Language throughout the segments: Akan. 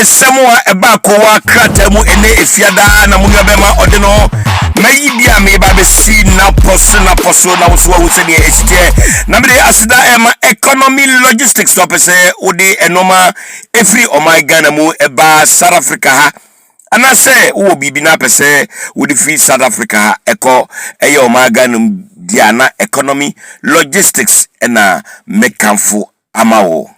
Nsɛm a ɛbaa kowaa krataa mu ɛnɛ Efiada na mo nuabɛma ɔde no mayi bi a meba bɛsi napɔ so napɔ so na woso wahu sɛdeɛ ɛsi teɛ na mede aseda ɛma economy logistics na ɔpɛ sɛ wode ɛnɔma ɛfiri ɔman Ghana mu ɛbaa South Africa ha anaasɛ wowɔ biribi na apɛ sɛ wode firi South Africa ha ɛkɔ ɛyɛ ɔman Ghana mu deɛ na economy logistics ɛna mekamfo ama wo.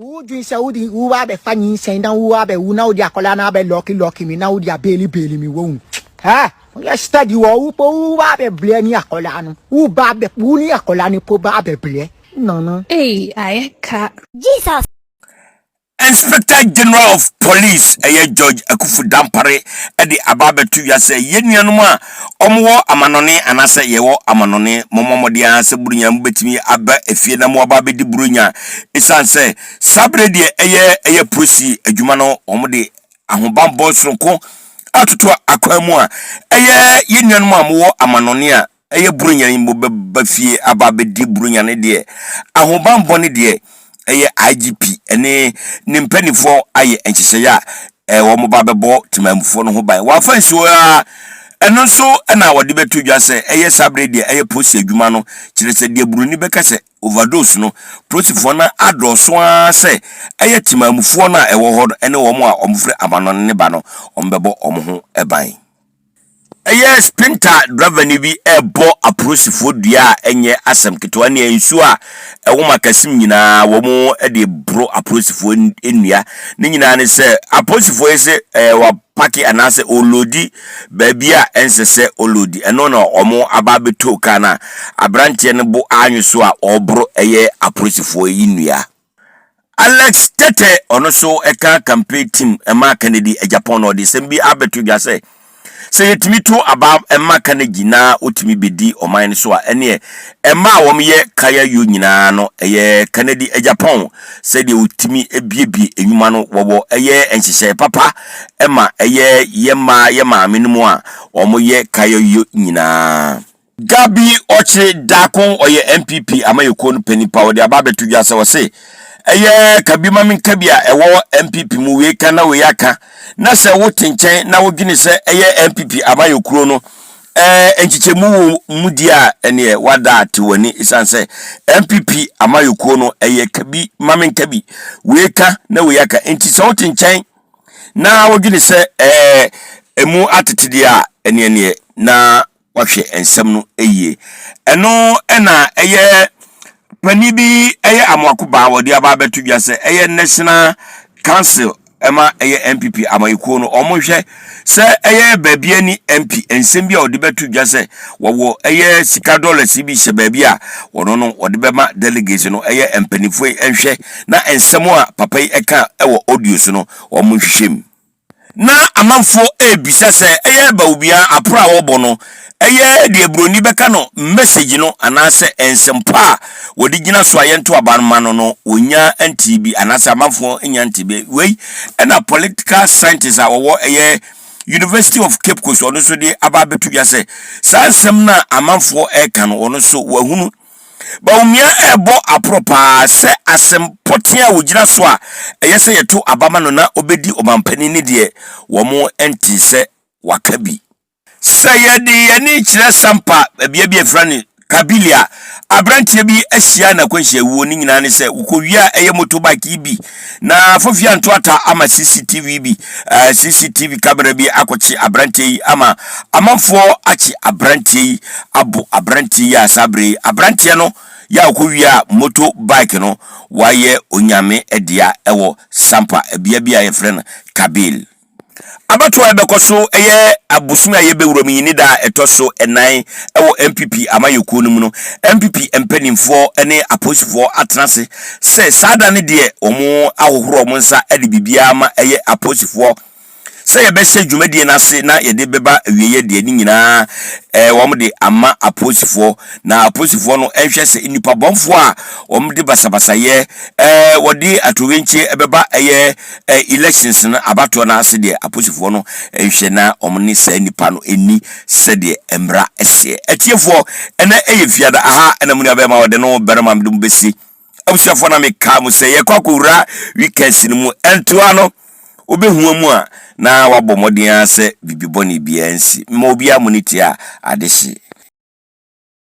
wodwen sɛ wode wo abɛfa nyinsɛn na wo abɛwu na wode akwadaa no abɛlɔke lɔke mi na wode abɛli bɛli mi wɔn ha woyɛ study wɔ wo po wo ba abɛbrɛ ne akwadaa no wo ba abɛ wo ne akwadaa no po ba abɛbrɛ no no. Ei, ayɛ ka. Jesus. Inspector General of Police ɛyɛ George Akuffo Dampare de aba abɛto dwa sɛ yɛn nuanom a wɔwɔ amanɔne anaasɛ yɛwɔ amanɔne, mommɔ mmɔden ara sɛ Buronya mu bɛtumi aba efie na moaba abɛdi Buronya ɛsiane sɛ saa berɛ deɛ ɛyɛ ɛyɛ polisi adwuma no wɔde ahobanbɔ soronko atoto akwan mu a ɛyɛ yɛn nuanom a mowɔ amanɔne a ɛyɛ Buronya yi mbo bɛba fie aba abɛdi Buronya no deɛ ahobanbɔ no deɛ ɛyɛ IGP ɛne ne mpaninfoɔ ayɛ nhyehyɛeɛ a ɛɛ wɔn ba bɛbɔ temanmufoɔ no ho ban wɔ afa nsuo a ɛno nso ɛna wɔde bɛto dwa sɛ ɛyɛ saa bere deɛ ɛyɛ polisi adwuma no kyerɛ sɛ deɛ buroni bɛka sɛ overdose no polisifoɔ no adɔɔso ara sɛ ɛyɛ temanmufoɔ no a ɛwɔ hɔ no ɛne wɔn a wɔn firi amanɔne ne ba no wɔn bɛbɔ wɔn ho ban. Ɛyɛ sprinter drɔvani bi rebɔ aporisifo dua a ɛnyɛ asɛm ketewa nea nsuo a ɛwom akasim nyinaa wɔn de boro aporisifo nnua. Ne nyinaa ne sɛ aporisifo yi se ɛɛ wapaki anaasɛ ɔlodi baabi a ɛnsɛ sɛ ɔlodi. Ɛno na wɔn aba abɛtoo kaa no a aberanteɛ no bo anwe so a ɔreboro ɛyɛ aporisifo yi nnua. Alex Tetteh, ɔno nso ɛka campaign team ɛma Kennedy Agyapong na ɔde nsɛm bi abɛto dwa sɛ sɛ yɛtumi to aba ɛma Carnegie na ɔtumi bɛdi ɔman no so a ɛneɛ ɛma a wɔyɛ Kaya Yo nyinaa no ɛyɛ Kennedy Agyapong sɛdeɛ ɔtumi biebie nnwuma no wɔwɔ ɛyɛ nhyehyɛe papa ɛma ɛyɛ yɛ mmaa yɛ maame no mu a wɔyɛ Kaya Yo nyinaa. Gabi Ɔkyere Daakon ɔyɛ NPP amayɛkuo no panin pa ɔde aba abɛto dwa sɛ ɔse ɛyɛ ka bi ma me nka bi a ɛwɔ NPP mu wei ka na wei aka na sɛ wote nkyɛn na wodwene sɛ ɛyɛ NPP amayɛkuo no ɛɛ nkyekyɛmu wɔ mu di a ɛneɛ wada te w'ani ɛsiane sɛ NPP amayɛkuo no ɛyɛ ka bi ma me nka bi wei ka na wei aka nti sɛ wote nkyɛn na wodwene sɛ ɛɛ ɛmu atete deɛ a ɛneɛ neɛ na wɔahwɛ nsɛm no yie. Ɛno na ɛyɛ panin bi ɛyɛ amoako baa wɔde aba abɛto dwa sɛ ɛyɛ national council ɛma ɛyɛ npp amayɛkuo no wɔn hwɛ sɛ ɛyɛ baabi ani mp nsɛm bi a wɔde bɛto dwa sɛ wɔwɔ ɛyɛ sika dollars bi hyɛ baabi a wɔn no wɔde bɛma delegates no ɛyɛ mpanimfoɔ yi nhwɛ na nsɛm a papa yi ɛka ɛwɔ audio so no wɔn nhwehwɛ mu. na amanfoɔ rebisa sɛ ɛyɛ Bawumia aporɔ a wɔbɔ no yɛ deɛ Buroni bɛka no message no anaasɛ nsɛmpa a wɔde gyina so a yɛnto aba no ma no no, wɔnnya ntee bi anaasɛ amanfoɔ nnya ntee bi. Wei na political scientist a ɔwɔ ɛyɛ University of Cape Coast ɔno nso de aba abɛto dwa sɛ saa nsɛm no a amanfoɔ reka no ɔno nso wahunu. Bawumia rebɔ aporo paa sɛ asɛm pɔtee a ɔgyina so a ɛyɛ sɛ yɛto aba ma no na ɔbɛdi ɔmanpanin no deɛ, wɔntee sɛ waka bi. Sɛ yɛde yɛn ani kyerɛ Sampa, bea bi a yɛfrɛ no Kabilia, aberanteɛ bi ahyia n'akwanhyia wuo, ne nyinaa ne sɛ, wokɔwiaa ɛyɛ motorbike yi bi Na Fofi Antoata ama CCTV bi, uh, eh, CCTV camera bi akɔkye aberanteɛ yi ama amanfoɔ akye aberanteɛ yi abo aberanteɛ yi a saa berɛ yi aberanteɛ no yɛ a ɔkɔwia moto bike no wayɛ onyame dea ɛwɔ Sampa, bea bi a yɛfrɛ no Kabil. Abatoɔ a ɛbɛkɔ so yɛ abosome a yɛbɛwura mu yi ne da a ɛtɔ so nnan wɔ NPP amayɛkuo no mu no, NPP mpaninfoɔ ne apolisifoɔ atena ase sɛ saa da no deɛ wɔn ahohoro wɔn nsa de biribiara ma ɛyɛ apolisifoɔ sɛ yɛbɛhyɛ dwumadie no ase na yɛde bɛba awieɛ deɛ ne nyinaa eh, wɔn de ama apolisifoɔ na apolisifoɔ no nhwɛ sɛ nnipa bɔnfoɔ a wɔn de basabasayɛ eh, wɔde atoyerɛnkyie bɛba ɛyɛ Eh elections no abatoɔ no ase deɛ aposifoɔ no nhwɛ na wɔn ne saa nipa no nni sɛdeɛ mmra seɛ. Atiefoɔ ɛnɛ ɛyɛ fiada aha ɛna munua bɛɛma ɔde no barima mede mo bɛsi. Abusuafoɔ na me kaa mo sɛ yɛkɔ akɔ wura weekends no mu ɛntoa no wobɛhua mu a na wabɔ mmɔden ara sɛ bibibɔne biara nsi. Mema obiara monitia a ade hye.